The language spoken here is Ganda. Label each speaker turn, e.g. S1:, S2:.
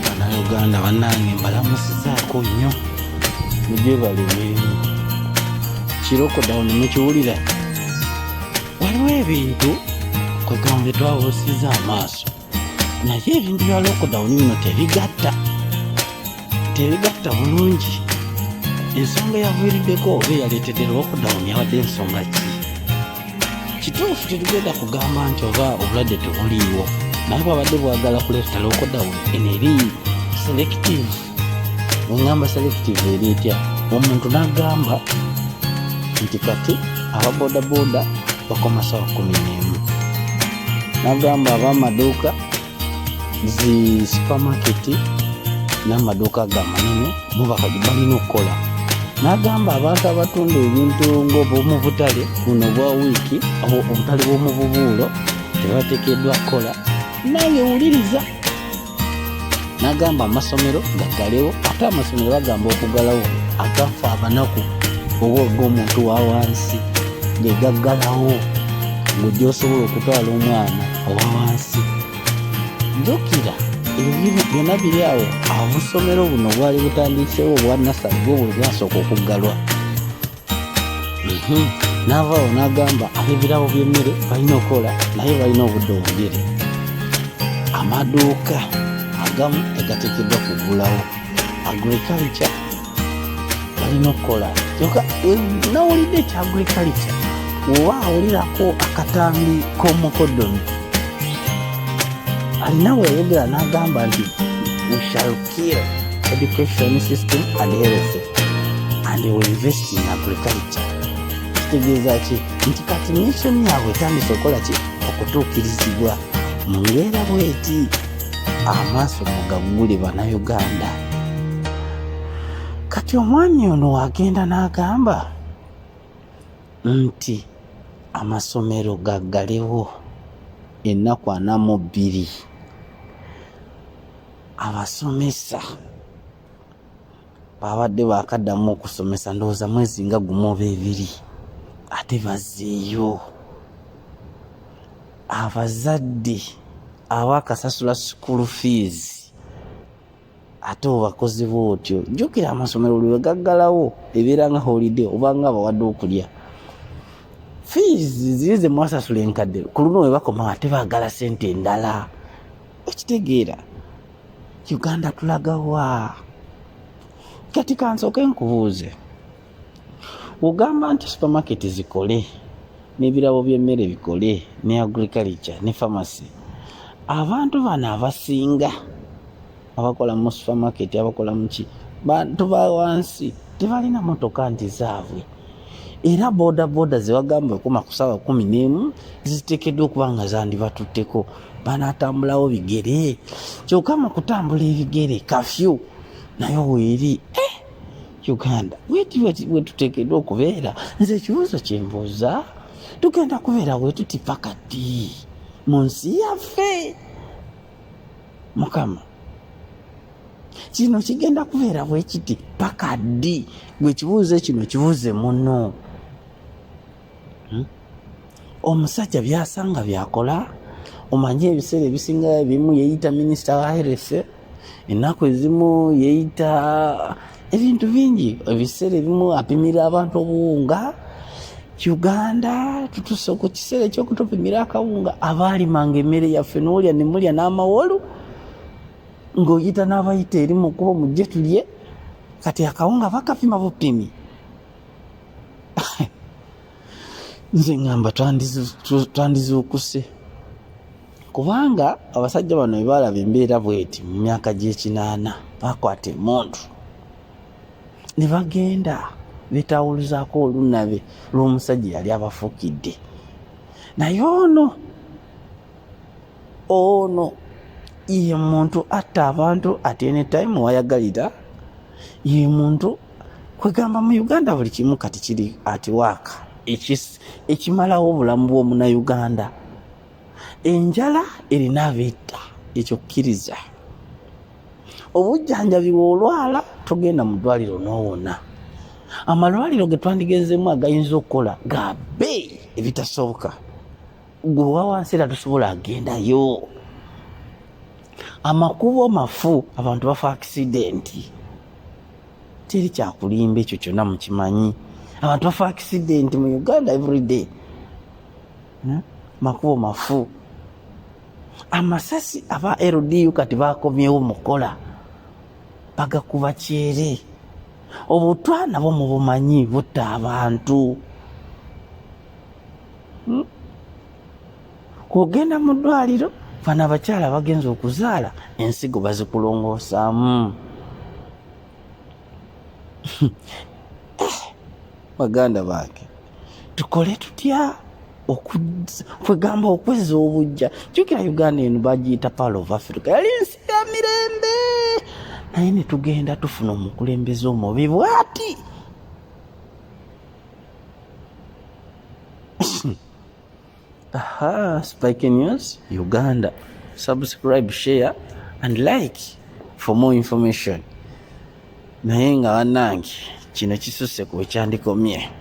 S1: banauganda banange mbalamusizaako nnyo mugyebale mirimu kirokodawuni mukiwulira waliwo ebintu kwegambe twabusiza amaaso naye ebintu bya lokodawuni bino tebigatta tebigatta bulungi ensonga yaviiriddeko oba eyaleetedde lwokudawuni abadde ensonga ki kituufu tetugenda kugamba nti oba obulwadde tebuliiwo naye bwabadde bwagala kuleeta lwokudawuni eno eri selective engamba selective eri etya omuntu n'agamba nti kati aba bodaboda bakoma sawa kumi n'emu n'agamba ab'amaduuka zi supamaketi n'amaduuka ga manene bo bakati balina okukola n'agamba abantu abatunda ebintu ng'obwomubutale buno bwa wiiki obutale bw'omububuulo tebatekeddwa kukola nange wuliriza n'agamba amasomero gagalewo ate amasomero bagamba okugalawo agafa abanaku oba og'omuntu wa wansi ge gaggalawo ng'oja osobola okutwala omwana owa wansi jukira ebintu byonna biri awo obusomero buno bwali butandiseewo obwa nasali bwo bwe bwasooka okuggalwa mhm. n'avaawo n'agamba ab'ebirabo by'emmere balina okukola naye balina obudde obugere amaduuka agamu tegateekeddwa kugulawo agriculture balina okukola kyoka eh, nawulidde ekyagriculture oba awulirako akatambi k'omukodomi alina weyogera n'agamba nti we shall kill education system and health and we invest in agriculture kitegeeza ki nti kati nation yabwe etandise okukola ki okutuukirizibwa mu mbeera bweti amaaso mugaggule banauganda kati omwami ono wagenda n'agamba nti amasomero gaggalewo ennaku anamu bbiri abasomesa babadde bakaddamu okusomesa ndowooza mwezi nga gumu oba ebiri ate bazeeyo abazadde abakasasula school fees ate obakozi bootyo jjukira amasomero lwe gaggalawo ebeera nga holiday obanga abawadde okulya fees ziri ze mwasasula enkadde ku luno webakoma ate baagala sente endala okitegeera uganda tulaga wa kati kansooke nkubuuze ogamba nti supermarket zikole n'ebirabo by'emmere bikole ne agriculture ne pharmacy abantu bano abasinga abakola mu supermarket abakola muki bantu ba wansi tebalina motoka nti zaabwe era bodaboda zebagamba okuma ku saawa kumi n'emu ziteekeddwa okuba nga zandibatutteko banatambulawo bigere kyoka mu kutambula ebigere kafyu naye weeri eh, uganda weti weti wetutekedwa okubeera nze ekibuuzo kyembuuza tugenda kubeera wetuti pakati mu nsi yaffe mukama kino kigenda kubeera bwekiti paka ddi gwe kibuuze kino kibuuze muno hmm? omusajja byasanga byakola omanyi ebiseera ebisinga ebimu yeyita minisita wa health ennaku ezimu yeyita ebintu bingi ebiseera ebimu apimira abantu obuwunga uganda tutuse ku kiseera ekyokutupimira akawunga abaalimanga emmere yaffe nolya nemulya n'amawolu ng'oyita n'abayita eri mu kuba mujje tulye kati akawunga bakapima bupimi nze ngamba twandizuukuse kubanga abasajja bano bebaalaba embeera bweti mu myaka gy'ekinaana bakwata emundu ne bagenda betawuluzaako olunabe lw'omusajja yali abafukidde naye ono ono ye muntu atta abantu at any time wayagalira ye muntu kwegamba mu uganda buli kimu kati kiri atiwaaka ekimalawo obulamu bwomunauganda enjala erina abeetta ekyo kkiriza obujjanjabi bwolwala togenda mu ddwaliro nowona amalwaliro ge twandigenzeemu agayinza okukola gabe ebitasoboka gwe wawansi era tusobola agendayo amakubo mafu abantu bafa akisidenti teri kyakulimba ekyo kyona mukimanyi abantu bafa akisidenti mu uganda everyday hmm? makubo mafu amasasi aba ldu kati bakomyewo mukola bagakuba kyere obutwa nabo mubumanyi butta abantu hmm? kugenda mu ddwaliro fana abakyala bagenza okuzaala ensigo bazikulongoosaamu baganda bange tukole tutya kwegamba okweza obujja jukira uganda eno bagiyita pal of africa yali nsi ya mirembe naye netugenda tufuna omukulembeze omubi bwati Aha, Spike News Uganda. Subscribe, share and like for more information. Naye nga banange kino kisuse ku ekyandikomye.